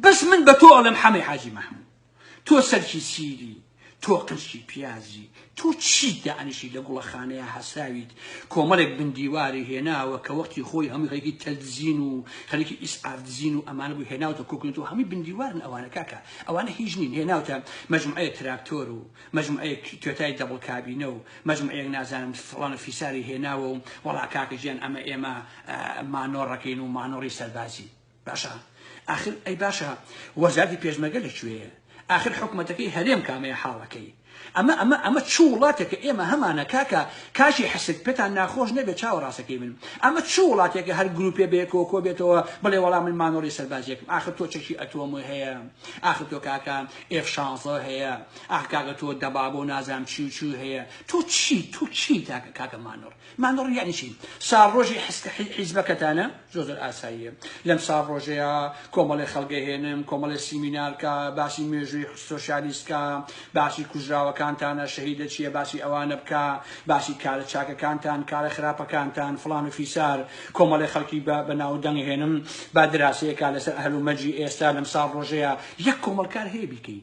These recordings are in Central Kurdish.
بەس من بە تۆ ئەڵێم حەمەی حاجی مەحموود تۆ سەرکی سیری تۆ قنچکی پیازی تۆ چیت دانیشی لە گوڵەخانەیە هەساویت کۆمەلێک بن دیواری هێناوە کە وەختی خۆی هەموو خەریکی تەلدزین و خەریکی ئیسعاف دزین و ئەمانە بوو هێناوتە کۆکنێت و هەمووی بن دیوارن ئەوانە کاکە ئەوانە هیچ نین هێناوتە مەجموعەیە تراکتۆر و مەجموعەیە توێتای دەبڵ کابینە و مەجموعەیەک نازانم فڵان و فیساری هێناوە و وەڵا کاکە گیان ئەمە ئێمە مانۆڕەکەین و مانۆڕی سەربازی باشە ئاخر ئەی باشە وەزارەتی پێشمەرگە لە کوێیە ئاخر حکومەتەکەی هەرێم کامەیە حاڵەکەی ئەمە ئەمە ئەمە چ وڵاتێکە ئێمە هەمانە کاکە کاشی حسک پێتان ناخۆش نەبێت چاوە ڕاستەکەی من ئەمە چ وڵاتێکە هەر گروپێ بێکۆ کۆ بێتەوە بڵێ وەڵام من مانۆڕی سەربازیەکم ئاخر تۆ چەکی ئەتۆم هەیە ئاخر تۆ کاکە ئێف شانزە هەیە ئاخ کاکە تۆ دەبابۆ نازام چی و چی هەیە تۆ چی تۆ چی تاکە کاکە مانۆڕ مانگڕ یەعنی چی؟ ساڕۆژی حسکە حیزبەکەتانە؟ زۆر زۆر ئاساییە لەم ساڕۆژەیا کۆمەڵێ خەڵگە هێنم کۆمەڵێ سیمینار کا باسی مێژووی سۆشیالیست کا باسی کوژراوەکانتانە شەهیدە چیە باسی ئەوانە بکا باسی کارە چاکەکانتان کارە خراپەکانتان فڵان و فیسار کۆمەڵێ خەڵکی بە بە ناو دەنگ هێنم با دراسەیەکا لەسەر ئەهل و مەرجی ئێستا لەم ساڕۆژەیا یەک کۆمەڵکار هەیە بیکەی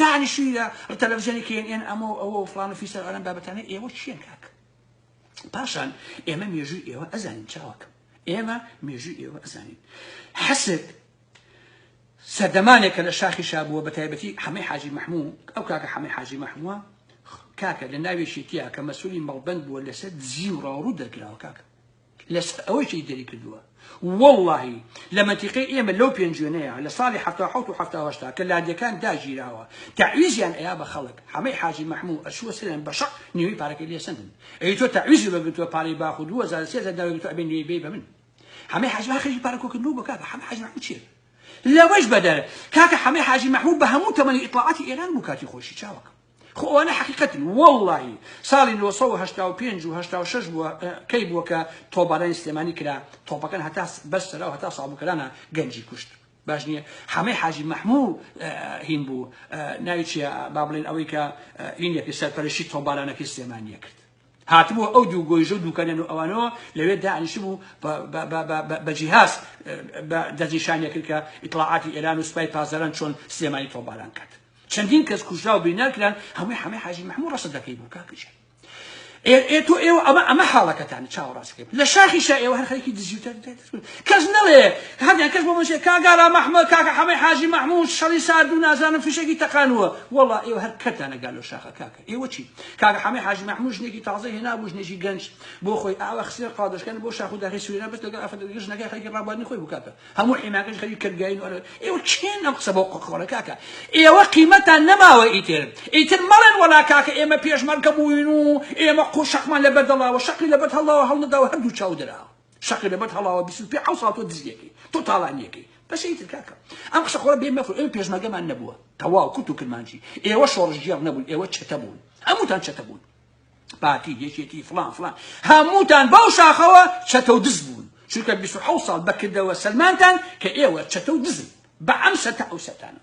دانیشتوی لە تەلەفزیۆنی کێن ئێن ئەمە و ئەوە و فڵان و فیسەر ئەم بابەتانە ئێوە چیەن کاک پاشان ئێمە مێژوی ئێوە ئەزانین چاوەکەم ئێمە مێژوی ئێوە ئەزانین حەسک سەردەمانێکە لە شاخی شابووە بە تایبەتی حەمەی حاجی محموو ئەو کاکە حەمەی حاجی محمووە کاکە لە ناوێکی تیا کە مەسولی مەڵبند بووە لەسەر دزی و ڕاوڕوو دەرکراوە کاکە لەسەر ئەوەی کەی دەری کردووە وەڵاهی لە مەنتیقەی ئێمە لەو پێنجوێنەیە لە ساڵی حەفتا و حەوت و حەفتا و هەشتا کە لادێکان داگیراوە تەعویزیان ئەیا بە خەڵک حەمەی حاجی مەحموو ئەچووە سەریان بە شەق نیوەی پارەکەی لێ سەندن ئەی تۆ تەعویزی بە گرتووە پارەی باخ و دوو هەزار و سێ هەزار داوای گرتووە ئەبێ نیوەی بەی بە من حەمەی حاجی مەحموو خەریکی پارە کۆکردن بوو بکات حەمەی حاجی مەحموو چییە لەوەش بەدەر کاکە حەمەی حاجی مەحموو بە هەموو تەمەنی ئیتڵاعاتی ئێران بوو کاتی خۆشی چاوەکەم خۆ ئەوانە حەقیقەتن وەڵڵاهی ساڵی نۆ سەد و هەشتا و پێنج و هەشتا و شەش بووە ئە کەی بووە کە تۆپبارانی سلێمانی کرا تۆپەکان هەتا بەر سەرا و هەتا سابووکەرانە گەنجی کوشت باش نییە حەمەی حاجی مەحموو هین بوو ناوی چیە با بڵێن ئەوەی کە هینێکی سەرپەرشی تۆپبارانەکەی سلێمانیە کرد هاتبووە ئەو دوو گۆیژە و دووکەنە نوئەوانەوە لەوێ دانیشتبوو بە جیهاز دەستنیشان دەکرد کە ئیتڵاعاتی ئێران و سوپای پاسداران چۆن سلێمانی تۆپباران کرد چەندین کەس کوژرا و بریندار کران هەمووی حەمەی حاجی محمود ڕەسە دەکەی بوو کاکەجان ئێ تۆ ئێوە ئەمە ئەمە حاڵەکەتان چاوەڕاست کرد لە شاخی شا ئێوە هەر خەریکی دزی و تەرد دێت کەس نەڵێ هەندێک کەس بۆ منشێ کاک ئارام ئەحمەد کاکە حەمەی حاجی مەحمود شەڕی ساردوو نازانم فیشەکی تەقانووە وەڵا ئێوە هەر کەتانە گا لەو شاخە کاکە ئێوە چی کاکە حەمەی حاجی مەحمود ژنێکی تازە هێنابوو ژنێکی گەنج بۆ خۆی ئاوا خسێر قادەشکەن بۆ شاخ و داخی سوێنە بەس لەگەڵ ئەفەت لەگەڵ ژنەکەی خەریکی ڕابواردنی خۆی بوو کاکە هەموو حیماکەش خەریک کردگاین و ئێوە چێن ئەم قسە بۆ قۆقۆڵە کاکە ئێوە قیمەتان نەماوە ئیتر ئیتر مەڵێن وەڵا کاکە ئێمە پێشمەرگە بووین و ئێمە قوشەقمان لەبەر دەڵاوە شەقی لەبەر هەڵاوە هەڵنەداوە هەردوو چاو دراوە شەقی لەبەر هەڵاوە بیست و پێ حەوت ساڵ تۆ دزیەکەی تۆ تاڵانیەکەی بەشی تر کاکە ئەم قسە قۆرە بێ مەکو ئێمە پێشمەرگەمان نەبووە تەواو کورت و کرمانجی ئێوە شۆڕشگێڕ نەبوون ئێوە چەتە بوون هەمووتان چەتە بوون پارتی یەکێتی فلان فلان هەمووتان بەو شاخەوە چەتە و دز بوون چونکە 26 ساڵ بەکردەوە سەلمانتان کە ئێوە چەتە و دزن بە ئەم سەتە ئەو سەتانە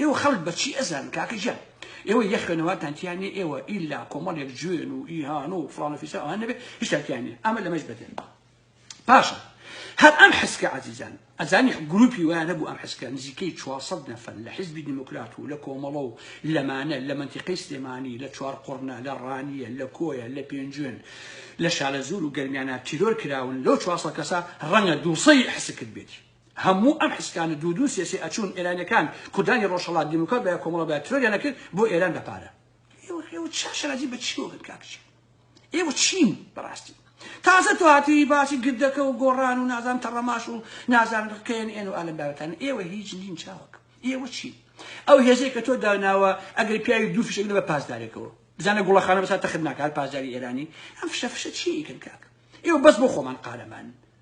ئێوە خەڵک بە چی ئەزانن کاکە گیان ئێوە یە خوێنەوارتان تیا نیە ئێوە ئیلا کۆمەڵێک جوێن و ئیهان و فڵان و فیسان ئەوان نەبێت هیچتان تیا نیە ئەمە لەمەش بەدەن باشە هەر ئەم حسکە عزیزان ئەزانی گروپی وایە نەبوو ئەم حسکە نزیکەی 400 نەفەر لە حزبی دیموکرات و لە کۆمەڵە و لەمانە لە منتیقەی سلێمانی لە چوار قڕنە لە ڕانیە لە کۆیە لە پێنجوێن لە شالەزور و گەرمیانە تیرۆر کراون لەو 400 کەسە ڕەنگە دووسەی حسکت بێتی هەموو ئەم حسکانە دوو دوو سێ سێ ئەچوون ئێرانیەکان کوردانی ڕۆژهەڵات دیموکرات بایە کۆمەڵە بایە ترۆریان ئەکرد بۆ ئێران بە پارە ئێوە ئێوە چا شەرازی بە چیەوە بن کاکچی ئێوە چین بەڕاستی تازە تو هاتوی باسی گردەکە و گۆڕان و نازان تەڕەماش و نازان کێن ئێن و ئالم بارەتان ئێوە هیچ نین چاوەک ئێوە چین ئەو هێزەی کە تۆ داناوە ئەگەر پیاوی دوو فشەگرە بە پاسدارێکەوە بزانە گوڵەخانە بەسا تەخت ناکات پاسداری ئێرانی ئەم فشە فشە چی ئیکن کاک ئێوە بەس بۆ خۆمان قارەمان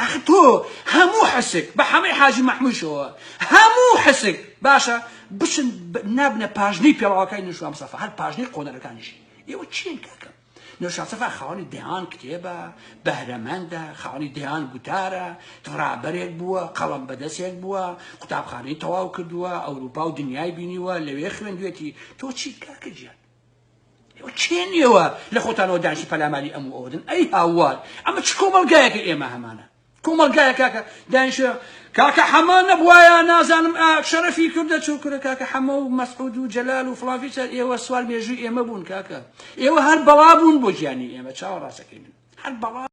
ئەخ تۆ هەموو حسک بە حەمەی حاجی مەحموشەوە هەموو حسک باشە بچن نابنە پاژنەی پێڵاوەکانی نوشام سەفا هەر پاژنەی قۆنەرەکانیشی ئێوە چین کاکەم نوشاسەفا خاوەنی دەیان کتێبە بەهرەمەندە خاوەنی دەیان گوتارە ڕابەرێک بووە قەڵم بەدەستێک بووە قوتابخانەی تەواو کردووە ئەوروپا و دنیای بینیوە لەوێ خوێندوێتی تۆ چیت کاکەجیان کێن ئێوە لە خۆتانەوە داعشی پەلاماری ئەم و ئەوەدن ئەی هاوار ئەمە چ کۆمەڵگایەکە ئێمە هەمانە کۆمەڵگایە کاکە دانیشە کاکە حەمە نەبوایە نازانم شەرەفی کوردە چۆ کورە کاکە حەمە و مەسعود و جەلال و فڵافیسەر ئێوە سوال مێژووی ئێمە بوون کاکە ئێوە هەر بەڵا بوون بۆ گیانی ئێمە چاوەڕاستەکەی من هەر بەڵا